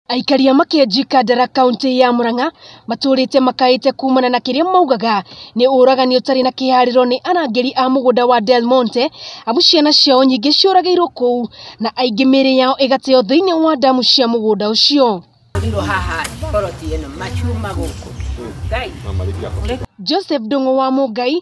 Aikaria makĩenji Kandara kaũntĩ ya Murang'a matũrĩte makaĩte kumana na kĩrĩa maugaga nĩ ũragani ũtarĩ na kĩharĩro nĩ arangĩri a mũgũnda wa Del Monte amu ciana ciao nyingĩ ciũragĩirwo kũu na aingĩ mĩrĩ yao ĩgateo thĩinĩ wa damu cia mũgũnda ũcio. Joseph Ndung'u wa Mũngai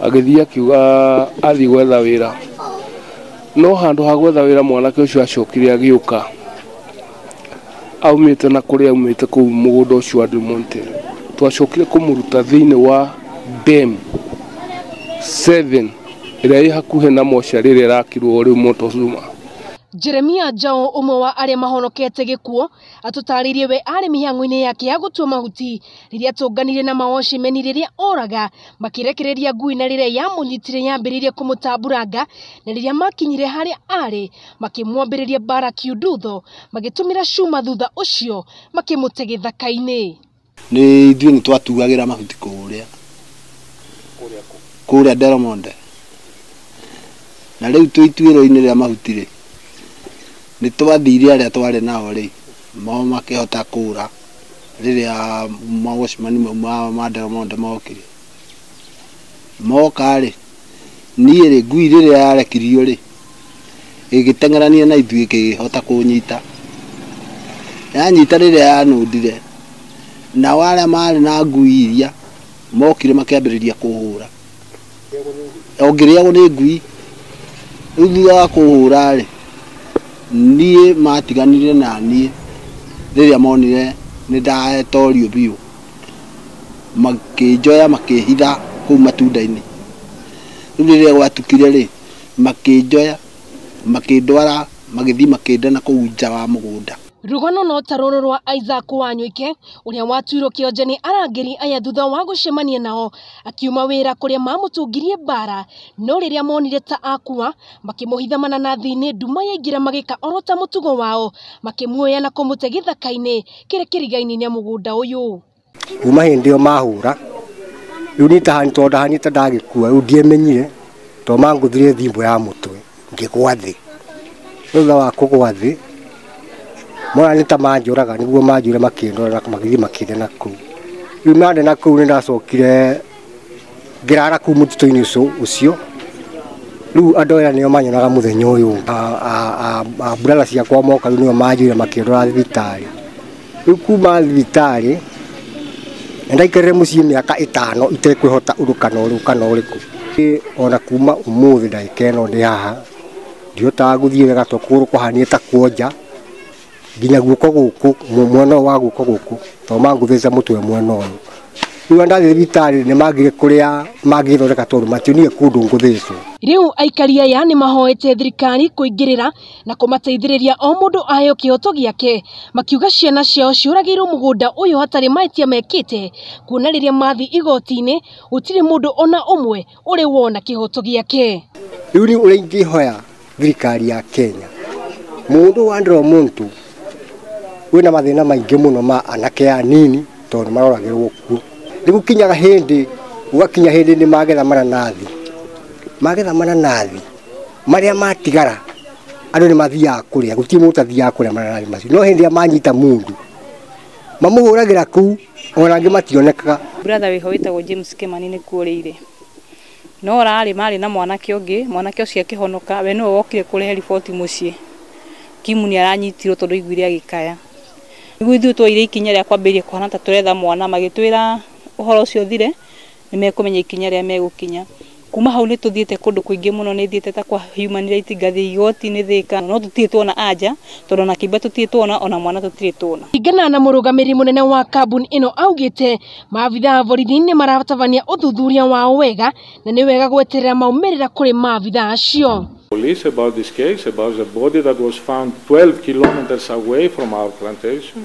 Agĩthiĩ akiuga athiĩ gwetha wĩra. No handũ ha gwetha wĩra mwanake ũcio acokire agĩũka aumĩte na kũrĩa aumĩte kũu mũgũnda ũcio wa Demonte. Twacokire kũmũruta thĩinĩ wa dam seven ĩrĩa ĩ hakuhĩ na mocarĩ ĩrĩa ĩrakirwo rĩu Montezuma. Jeremia Njaũ ũmwe wa arĩa mahonokete gĩkuũ atũtarĩirie we arĩ mĩhang'o-inĩ yake ya gũtua mahuti rĩrĩa tũnganire na mawoshimeni rĩrĩa oraga makĩrekereria ngui na rĩrĩa yamũnyitire yambĩrĩirie kũmũtamburanga na rĩrĩa makinyire harĩa arĩ makĩmwambĩrĩria mbara kiundutho magĩtũmĩra cuma thutha ũcio makĩmũte gĩthaka-inĩ Nĩ ithuĩ nĩ twatuagĩra mahuti kũrĩa kũrĩa Delmonte. Na rĩu twĩ ituĩro-inĩ rĩa mahuti rĩ, nĩ twathire arĩa twarĩ nao rĩ, o makĩhota kũra rĩrĩa ma watchman mau ma ma Delmonte mokire. Moka rĩ, niĩ rĩ, ngui rĩrĩa yarekirio rĩ, ĩgĩteng'erania na ithuĩ ĩkĩhota kũnyita. Yanyita rĩrĩa yanũndire, nao arĩa maarĩ na ngui iria mokire makĩambĩrĩria kũhũra, o ngĩrĩagwo nĩ ngui. Rĩu thutha wa kũhũra-rĩ, niĩ matiganire na niĩ rĩrĩa monire nĩ ndatorio biũ, makĩnjoya makĩhitha kũu matunda-inĩ. Rĩu rĩrĩa gwatukire-rĩ... makĩnjoya, makĩndwara, magĩthiĩ makĩnda na kũu nja wa mũgũnda. Rũgano no ta rũrũ rwa Isaac Wanywike ũrĩa watuirwo kĩonje nĩ arangĩri aya thutha wa gũcemania nao akiuma wĩra kũrĩa mamũtũngirie mbara no rĩrĩa monire ta akua makĩmũhitha mananathi-inĩ nduma yaingĩra magĩka oro ta mũtugo wao makĩmuoya na kũmũte gĩthaka-inĩ kĩrĩ kĩriga-inĩ na mũgũnda ũyũ. kuma hĩndĩ ĩyo mahũra rĩu niĩ tondũ ndahanĩte ndagĩkua rĩu ndiemenyire tondũ mangũthire thimbũ ya mũtwe ngĩgwa thĩ thutha wa kũgwa thĩ mona nĩ ta manjũraga nĩguo manjũrire makĩndorera magĩthiĩ makĩndenaga kũu rĩu mandenaga kũu nĩ ndacokire ngĩrara kuu mũtitũ-inĩ ũcio ũcio rĩu andũ aya nĩo manyonaga mũthenya ũyũ A- a- a- a- mburara ciakwa moka rĩu nĩo manjire makĩndora thibitarĩ rĩu kuma thibitarĩ na ndaikarire mũciĩ mĩaka ĩtano itekwĩhota ũndũ kana ũrũ kana ũrĩkũ Ĩ, ona kuma ũmũthĩ ndagĩka ĩno ndĩ haha ndihotaga gũthiĩ wega to kũgũrũ kũhanie ta kuonja nginya guoko gũkũ mu- mwena ũyũ wa guoko gũkũ to mangũthĩca mũtwe mwena ũyũ rĩu arĩa ndathiĩ thibitarĩ nĩ mangire kũrĩa mangĩthondeka tondũ mationire kũndũ ngũthĩcwo Rĩu aikari aya nĩ mahoete thirikari kũingĩrĩra na kũmateithĩrĩria o mũndũ aheo kĩhoto gĩake makiuga ciana ciao ciũragĩirwo mũgũnda ũyũ hatarĩ mahĩtia mekĩte kuona rĩrĩa mathiĩ igoti-inĩ gũtirĩ mũndũ ona ũmwe ũrĩ wona kĩhoto gĩake. Rĩu nĩ ũrĩa ingĩhoya thirikari ya Kenya, mũndũ wa Andrew Muntu wĩna mathĩna maingĩ mũno ma anake anini tondũ nĩ maroragĩrwo kuo. Nĩ gũkinyaga hĩndĩ gũgakinya hĩndĩ nĩ magetha mananathi, magetha mananathi marĩa matigara andũ nĩ mathiaga kũrĩa, gũtirĩ mũndũ ũtathiaga kũrĩa mananathi macio. No hĩndĩ ĩrĩa manyita mũndũ mamũhũragĩra kũu. Ona angĩ mationekaga. Brother wĩho wĩtagwo James Kĩmani nĩ kũũrĩ irĩ. No ũrarĩ marĩ na mwanake ũngĩ, mwanake ũcio akĩhonoka, we nĩwe wokire kũrehe riboti mũciĩ. Kim nĩ aranyitirwo tondũ aiguire agĩkaya. Nĩguo ithuĩ twoire ikinya rĩa kwambĩrĩria kũhana ta tũretha mwana, magĩtwĩra ũhoro ũcio ũthire, nĩ mekũmenya ikinya rĩa megũkinya. Kuma hau nĩ tũthiĩte kũndũ kũingĩ mũno, nĩ thiĩte ta kwa human rights, ngathiĩ igoti-inĩ Thĩka, no tũtirĩ tuona anja, tondũ ona kĩimba tũtirĩ tuona, ona mwana tũtirĩ tuona. Kũringana na mũrũgamĩrĩri mũnene wa kambuni ĩno augĩte maabitha a borithi nĩ maratabania ũthuthuria wao wega na nĩ wega gweterera maumĩrĩra kũrĩ maabitha acio. Police about this case, about the body that was found 12 kilometers away from our plantation.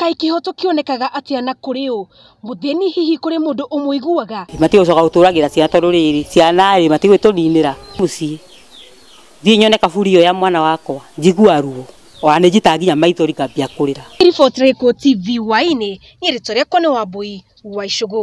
Kaĩ kĩhooto kĩonekaga atĩa na kũrĩ ũ mũthĩni? Hihi kũrĩ mũndũ ũmũiguaga? Matigwĩ coka gũtũragĩra ciana tondũ rĩrĩ ciana rĩ matigwĩ tũninĩra mũciĩ thiĩ nyone kaburi ĩyo ya mwana wakwa njigua ruo ona nĩ njitaga nginya maithori ngambia kũrĩra. Riboti rĩkũ TV Wine niĩ rĩtwa rĩakwa nĩ Wambũi wa Icũgũ.